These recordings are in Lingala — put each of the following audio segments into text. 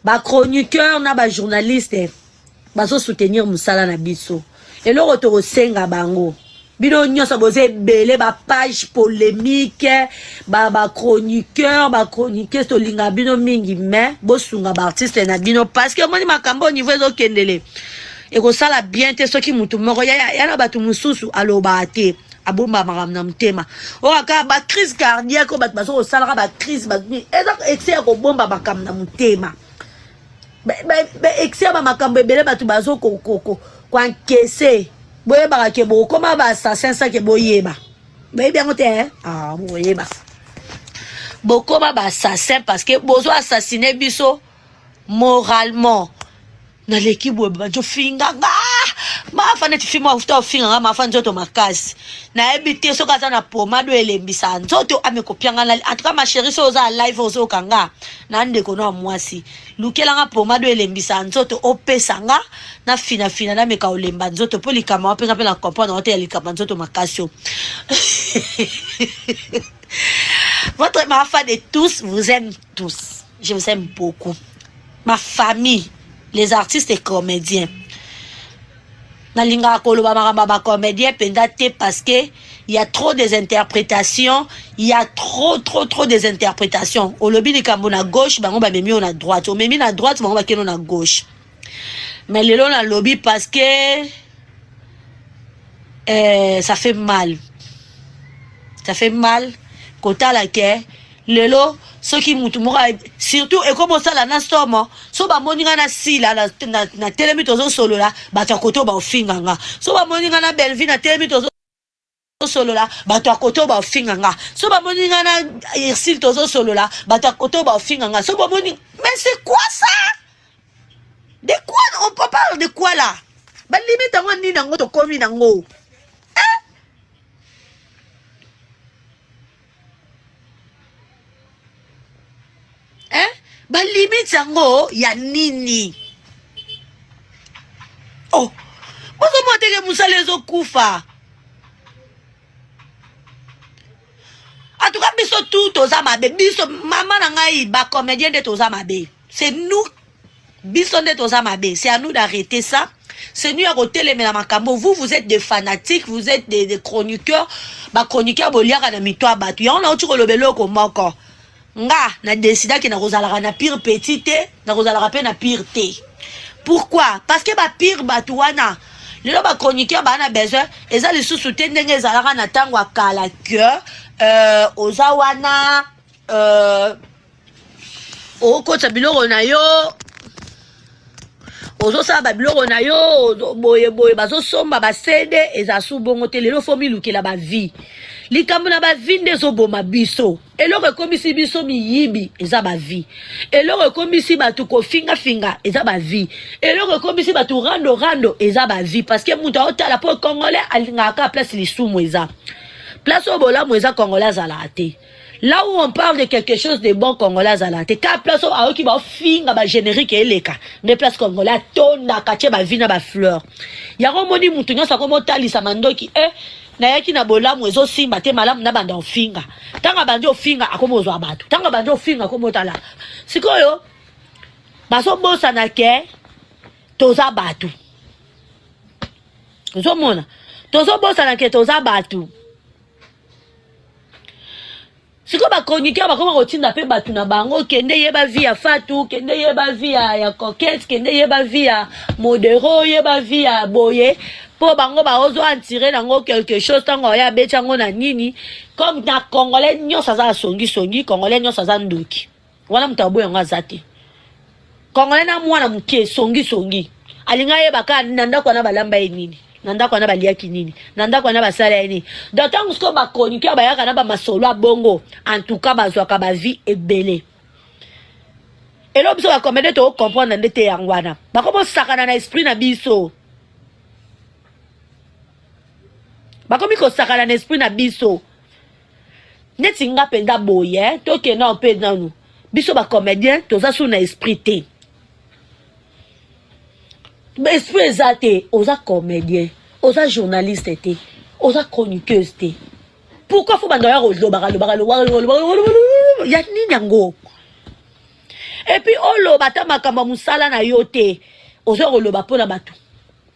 ba chroniqueur na ba journaliste bazo soutenir musala na biso eloko tokosenga bango bino nyonso boza ebele ba page polemique ba ba chroniqueur ba chroniqueuse tolinga bino mingi mais bosunga ba artiste na bino parce que omoni makambo au niveau ezokendele ekosala bien te soki motu moko ya, ya, ya na bato mosusu alobaka te abomba makambo na motema oyo oh, aka bacrise cardiaque oyo bato bazo kosalaka bacrise eza excès ya kobomba makambo na motema excès ya bamakambo ebele bato bazo koankese boyebaka ke bokoma baassassin sake boyeba boyebi yango te eh? ah, boyeba bokoma baassassin parce que bozo assassine biso moralement naleki boye babandi ofinga nga mafa neti fimo afuta ofinga nga mafa nzoto makasi nayebi te soki aza na pomado elembisa nzoto amekopia nga nali antuka masheri so oza live ozoyoka nga na ndeko no ya mwasi lukela nga pomado elembisa nzoto opesa nga na finafina nameka olemba nzoto mpo likambo wapenga mpe na comprendre wate ya likambo ya nzoto makasi o votre mafa de tous vous aime tous je vous aime beaucoup ma famille les artistes et comédiens nalingaka koloba makambo ya bacomédien mpenza te parce que ya trop des interprétations ya trop trop trop des interprétations olobi likambo na gauche bango bamemi yo na droite omemi na droite bango bakeno na gauche mais lelo nalobi parce que euh, ça fait mal ça fait mal kotala ke lelo soki mutu moko surtout ekomi osala na somo so bamoni nga na sila na telemi tozosolola bato ya koto baofinga nga so bamoni nga na belvi na telemi tozo solola bato ya koto baofinga nga so bamoni nga na ursile tozosolola bato ya koto baofinga nga so bamoni mais c'est quoi ça de quoi on peut parle de quoi là balimite yango nini yango tokomi nango eh? balimite yango ya nini oh bozomona teke mosala ezokufa atuka biso tu toza mabe biso mama na ngai bacomédien nde toza mabe c'est nous biso nde toza mabe c'est à nous d'arrêter ça c'est nous ya kotelemela makambo vous vous êtes des fanatiques vous êtes des, des chroniqueurs bachroniqueur boliaka na mito ya bato yango nauti koloba eloko moko nga na desidaki nakozalaka na pire petit te nakozalaka mpe na pire te pourquoi parce que bapire bato wana lelo bachroniqueur baa na besoin eza lisusu te ndenge ezalaka na ntango ya kala que euh, oza wana euh, okotisa biloko na yo ozosala babiloko na yo boye boye bazosomba basede eza su bongo te lelo fo milukela bavie likambo na bavie nde ezoboma biso eloko ekomisi biso miyibi eza bavie eloko ekomisi bato kofingafinga eza bavie eloko ekomisi bato rando rando eza bavie parce que moto aotala mpo congolais alingaka kaka place lisumu eza place oyo bolamu eza congolais azalaka te Là où on parle de quelque chose de bon congolais azala te ka place oyo ayoki baofinga bagénérique eleka nde place congolais atondaka tie bavi na bafleur yango omoni motu nyonso akomi otalisa mandoki e eh, nayaki na bolamu ezosimba te malamu nabanda ofinga ntango abandi ofinga akomi ozwa bato ntango abandi ofinga akomi otala sikoyo bazobosana ke toza bato ozomona tozobosana ke toza bato sikoyo bachroniqueur bakoma kotinda mpe bato na bango kende yeba vi ya fatu kende yeba vi ya, ya coquette kende yeba vi ya modero yeba vi ya boye mpo bango baozo antire nango quelque chose ntango aoya abeti yango na nini comme na congolais nyonso aza asongisongi congolais nyonso aza ndoki wana moto aboya yango aza te kongole na mwana moke songisongi alingi ayeba kaka na ndako wana balamba ye nini na ndako wana baliaki nini na ndako wana basala ye nini donc ntango sikoyo bachroniqueur bayaka na bamasolo ya bongo entouka bazwaka bavie ebele elo biso bakomede tokocomprendre nde te yango wana bakobosakana na esprit na biso bakomi kosakana na esprit na biso neti nga mpenza boye eh, tokenda mpe nanu biso bacomédien toza su na esprit te esprit eza te oza comédien oza journaliste te oza chroniqueuse te pourquoi fo banda ya kolobaka lobaka ya nini yango epuis oloba ata makambo ya mosala na yo te oza koloba mpo na bato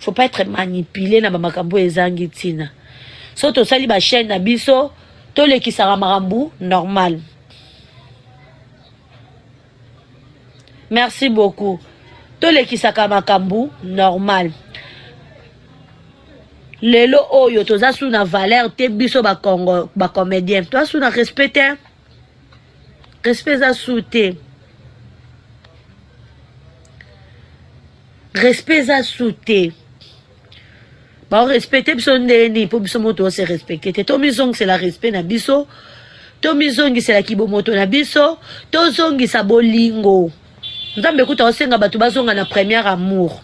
faut pas être manipule na bamakambo oyo ezangi ntina so tosali bachaine na biso tolekisaka makambo normal merci beaucoup tolekisaka makambo normal lelo oyo toza su na valeur te biso bacomédien toza su na respect te respect eza su te respect eza su te baorespecte biso ndenge nini mpo biso moto ose respecte te tomizongisela respect na biso tomizongisela kibomoto na biso tozongisa bolingo nzambe kuta osenga bato bazonga na première amour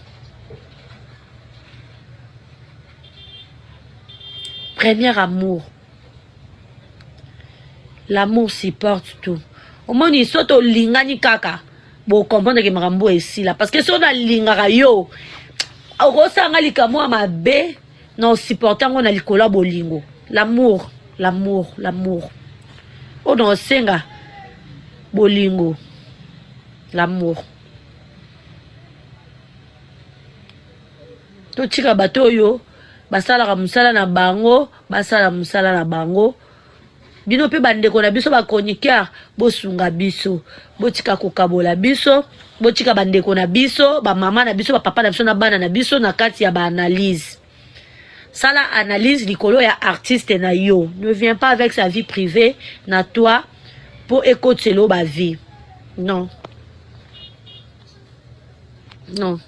première amour L'amour supporte tout. Omoni soki tolingani kaka bokomprendre ke makambo esila parce que soki nalingaka yo okosala nga likambo ya mabe na osupporte yango na likolo ya bolingo l'amour l'amour l'amour oyo na osenga bolingo l'amour totika bato oyo basalaka mosala na bango basala musala na bango bino mpe bandeko na biso bachroniqueur bosunga biso botika kokabola biso botika bandeko na biso bamama na biso bapapa na biso na bana na biso na kati ya baanalyse sala analyse likolo ya artiste na yo ne viens pas avec sa vie privée na toi mpo ekotiselo bavie non non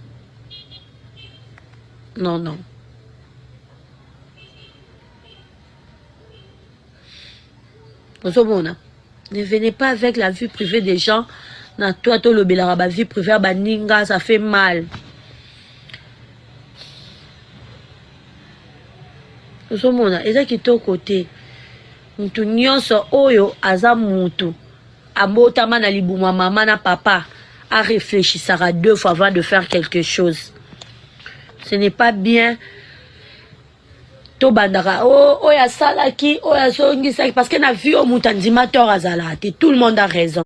non non ozomona ne venez pas avec la vie privée des gens na toi tolobelaka ba vie privée ya baninga ça fait mal ozomona eza kitoko te mutu nyonso oyo aza mutu abotama na libuma mama na papa areflechisaka deux fois avant de faire quelque chose ce n'est pas bien tobandaka oh, oyo asalaki oyo azongisaki parce que na vie oyo moto andima tort azalaka te tout le monde a raison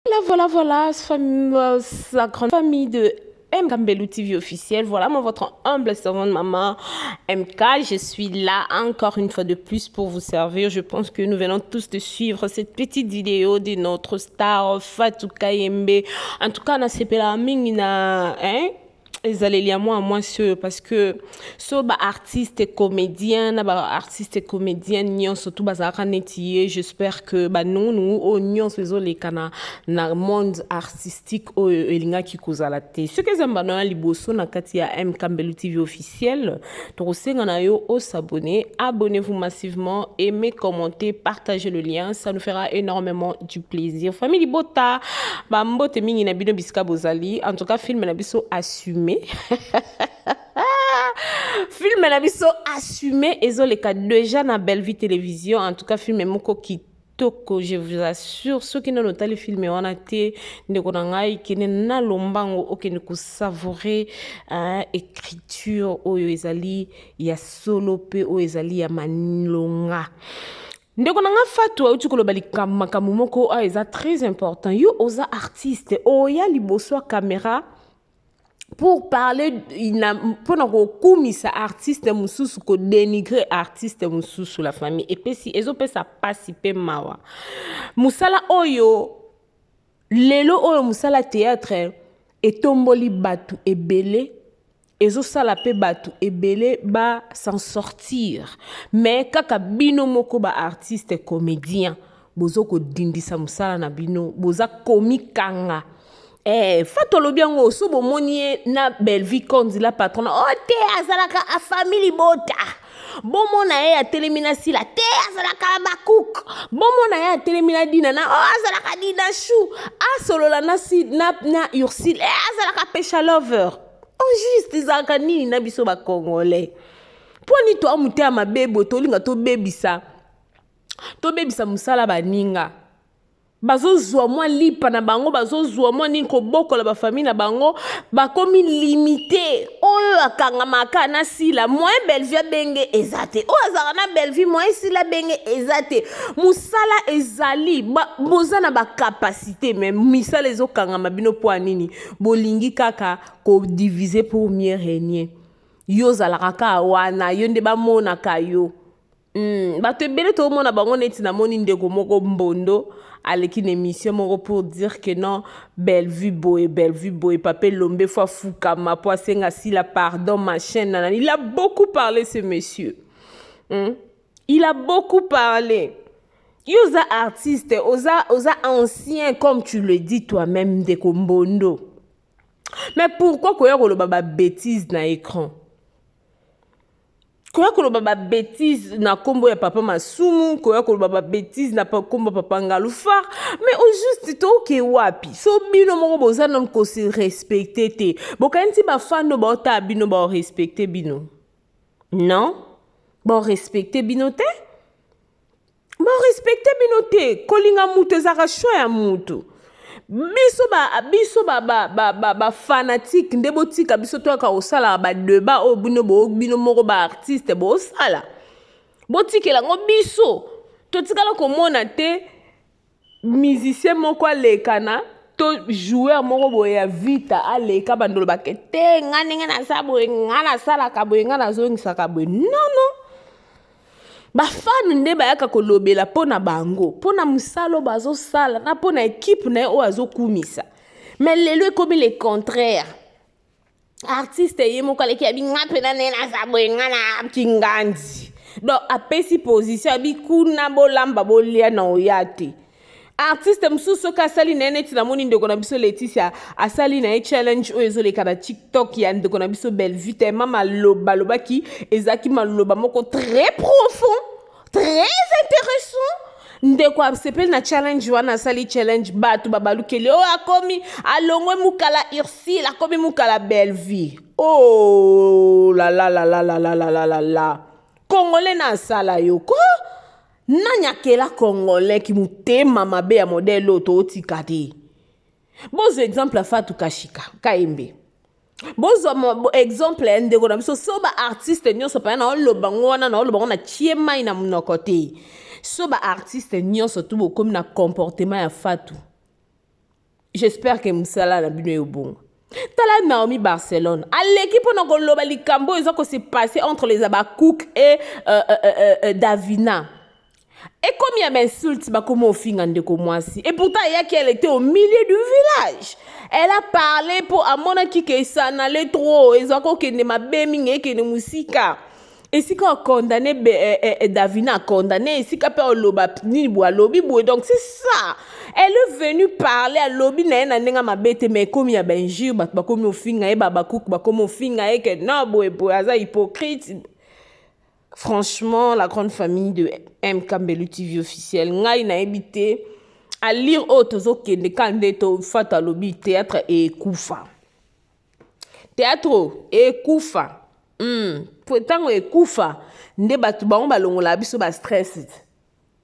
voilà voilà voilà fam... Euh, la grande famille de MK Mbelou TV officiel. Voilà moi votre humble servante maman MK. Je suis là encore une fois de plus pour vous servir. Je pense que nous venons tous de suivre cette petite vidéo de notre star Fatou Kayembe. En tout cas, on a mingi na hein ezaleli ya mwana mwasi oyo parce que so baartiste comédien na baartiste comédienne nyonso tu bazalaka neti ye j'espère que banungunungu oyo nyonso ezoleka na, na monde artistique oyo elingaki kozala te soki eza mbano ya liboso na kati ya mkambelu tv officiel Tokosenga na yo o s'abonner, abonnez-vous massivement, aimez, commentez, partagez le lien, ça nous fera énormément du plaisir. Famille Libota, ba mbote mingi na bino bisika bozali. En tout cas, film na biso assumé. film na biso assumé ezoleka déjà na Bellevue Télévision. En tout cas, film moko qui toko je vous assure soki nano otali filme wana te ndeko na ngai kende na lombango okende kosavoure hein, écriture oyo ezali ya solo mpe oyo ezali ya malonga ndeko na nga fatu auti koloba likambo makambo moko oyo eza très important yo oza artiste oya liboso ya kamera pour parler mpo na kokumisa artiste mosusu kodenigre artiste mosusu la famille epesi ezopesa mpasi mpe mawa mosala oyo lelo oyo mosala théâtre etomboli bato ebele ezosala mpe bato ebele ba s'en sortir mais kaka bino moko ba artiste comédien bozo kodindisa mosala na bino boza komikanga Eh, fatu alobi yango so bomoni ye na bellevie conzi la patrona o oh, te azalaka afami libota bomona ye atelemi na sila te azalaka na bakuke bomona ye atelemi na dina na o oh, azalaka dina chou asolola na, na, na ursile e azalaka pesha lover o oh, juste ezalaka nini na biso bacongolais mpo nini toa motema mabe boye tolinga tobebisa tobebisa mosala baninga bazozwa mwa lipa na bango bazozwa mwa nini kobokola bafamille na bango bakomi limite oyo akangamaka na sila moyen bellevue abenge eza te oyo azalaka na bellevue moyen sila abenge eza te mosala ezali boza na bacapacité me misala ezokangama bino mpo ya nini bolingi kaka kodivise pour mieux régner yo ozalaka kaka wana yo nde bamonaka yo Hmm, bato ebele toomona bango neti namoni ndeko moko mbondo aleki na émission moko pour dire que non bellevue boye bellevue boye papa elombe fo afukama mpo asenga sila pardon machin nana il a beaucoup parlé ce monsieur hmm? il a beaucoup parlé yo oza artiste oza, oza ancien comme tu le dis toi-même ndeko mbondo mais pourquoi koya koloba babétise na écran koya koloba ba bêtise na kombo ya papa masumu koya koloba ba bêtise na kombo papa ngalufar mais au juste toke wapi so bino moko boza nom ko se respecter te bokanisi ba fan no baota bino ba respecter bino non ba respecter bino te Ba respecter bino te, kolinga mutu ezaka choix ya mutu. biso ba biso ba ba ba ba, ba fanatique nde botika biso toyaka kosala ba debat oyo bino bo bino moko ba artiste bosala botikela yango biso totikala komona te musicien moko aleka na to joueur moko boye ya vita aleka bandolobake te nga ndenge naza boye nga nasalaka boye nga nazongisaka boye nono bafane nde bayaka kolobela mpo na bango mpo na mosala oyo bazosala na mpo na ekipe na ye oyo azokumisa me lelo ekomi le contraire artiste ye moko aleki abi nga mpena naye naza boye nga na kingandi donc apesi position abi kuna bolamba bolia na oya te artiste mosusu soki asali na ye neti namoni ndeko na biso leticia asali na ye challenge oyo ezoleka na tiktok ya ndeko na biso bellevue tema maloba alobaki ezalaki maloba moko très profond très intéressant ndeko asepeli na challenge wana asali challenge bato babalukeli oyo oh, akomi alongwe mukala ursile akomi mukala bellevie oh lalalalalalalalala kongole na asala yo ko nani akela kongole kimotema mabe ya modele oyo tootika te bozo exemple ya fatu kashika kayembe bozwa exemple ya ndeko na biso so baartiste nyonso mpaya na oloba ngo wana na oloba ngo na tie mai na monoko te so baartiste nyonso tu bokomi na comportement ya fatu j'espère ke mosala na bino eyobonga tala naomi barcelone aleki mpo na koloba likambo oyo eza kose passe entre les abacook et euh, euh, euh, euh, davina Ekomi ya ba insultes bakoma ofinga ndeko mwasi et pourtant ayaki elle était au milieu du village elle a parlé mpo amonaki ke ça n'allait trop ezwa kokende mabe mingi ekende mosika esika okondane eh, eh, eh, davina akondane esika mpe oloba nini boye alobi boye donc c'est ça elle est venue parler alobi na ye na ndenge mabe te mais ekomi ya bainjure bato bakomi ofinga ye babakuku bakomi ofinga ye ke no boye boye aza hypocrite Franchement, la grande famille de M. Kambelu TV officiel, ngai na ebite, à lire oyo tozokende ka nde tofata alobi théâtre ekufa théâtre ekufa ntango hmm. ekufa nde bato bango balongolaka biso bastress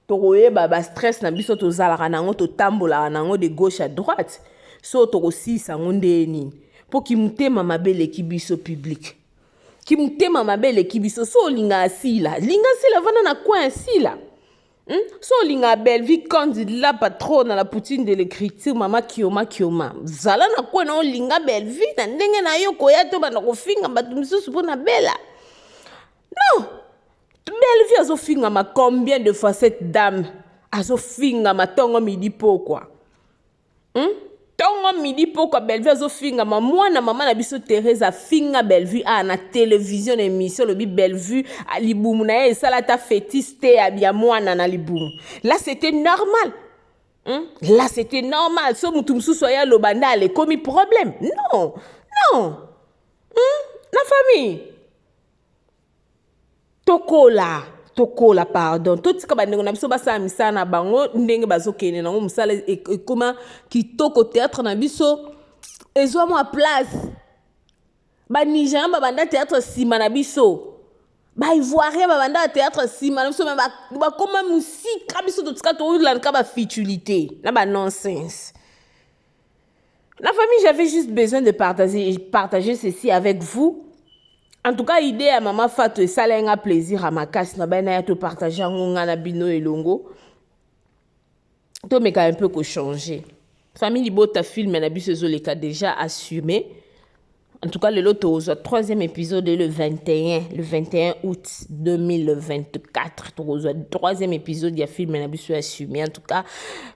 tokoyeba ba stress na biso tozalaka na yango totambolaka na yango de gauche à droite so tokosilisa yango ndeye nini mpo kimotema mabe eleki biso publike kimotema mabe eleki biso so olingaka sila linga sila vanda na coin ya sila Hmm? so olingaka bellevie candide la patrona la poutine de l'écriture mama kioma kioma zala na kwe na olinga bellevie na ndenge na yo koya to banda kofinga bato mosusu mpo na bela non Bellevue azo fingama combien de fois cette dame azo fingama tongo midi pokwa hmm? tongo midi pokwa Bellevue azo fingama mwana mama na biso Therese afinga Bellevue a ah, na television na émission lobi Bellevue ah, libumu na ye esala ata fétis te ya mwana na libumu là c'était normal hmm? là c'était normal so mutu mosusu aya aloba nde alekomi problème non non hmm? na famille tokola tokola pardon totika bandeko na biso basala misala na bango ndenge bazokende nango mosala e, e, ekoma kitoko théâtre na biso ezwa mwa place banigerian babanda théâtre nsima na biso baivoirien babanda théâtre nsima na biso me bakoma mosika biso totika tolandka bafutilité na banonsense La famille, j'avais juste besoin de partager, partager ceci avec vous. En tout cas, idée à maman Fatou et Salenga plaisir à ma casse. Na ben, to partager ngonga na bino et longo. To meka un peu ko changer. Famille libota film na biso ezoleka déjà assumé. En tout cas, le lot au troisième épisode le 21, le 21 août 2024. Troisième épisode, il y a film na biso assumé. En tout cas,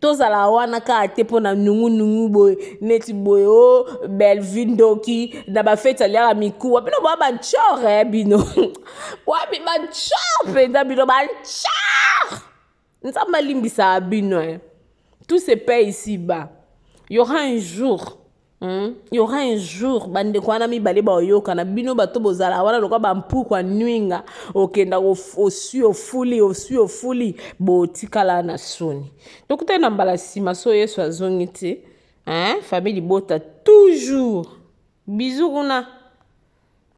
tozala wana kaka te mpo na nungunungu boye neti boye o oh, bellevue ndoki na bafeti aliaka mikuwa bino boya bachore eh, bino wapi bachore mpenza bino bachore nzambe alimbisaka bino eh. tout se paye ici bas y aura un jour Hmm? Il y aura un jour bandeko wana mibale baoyokana bino bato bozala wana lokola bampukwa nwinga okenda osui ofuli osui ofuli botikala na soni tokutani na mbala nsima so yesu azongi te hein? famille libota toujours bizu kuna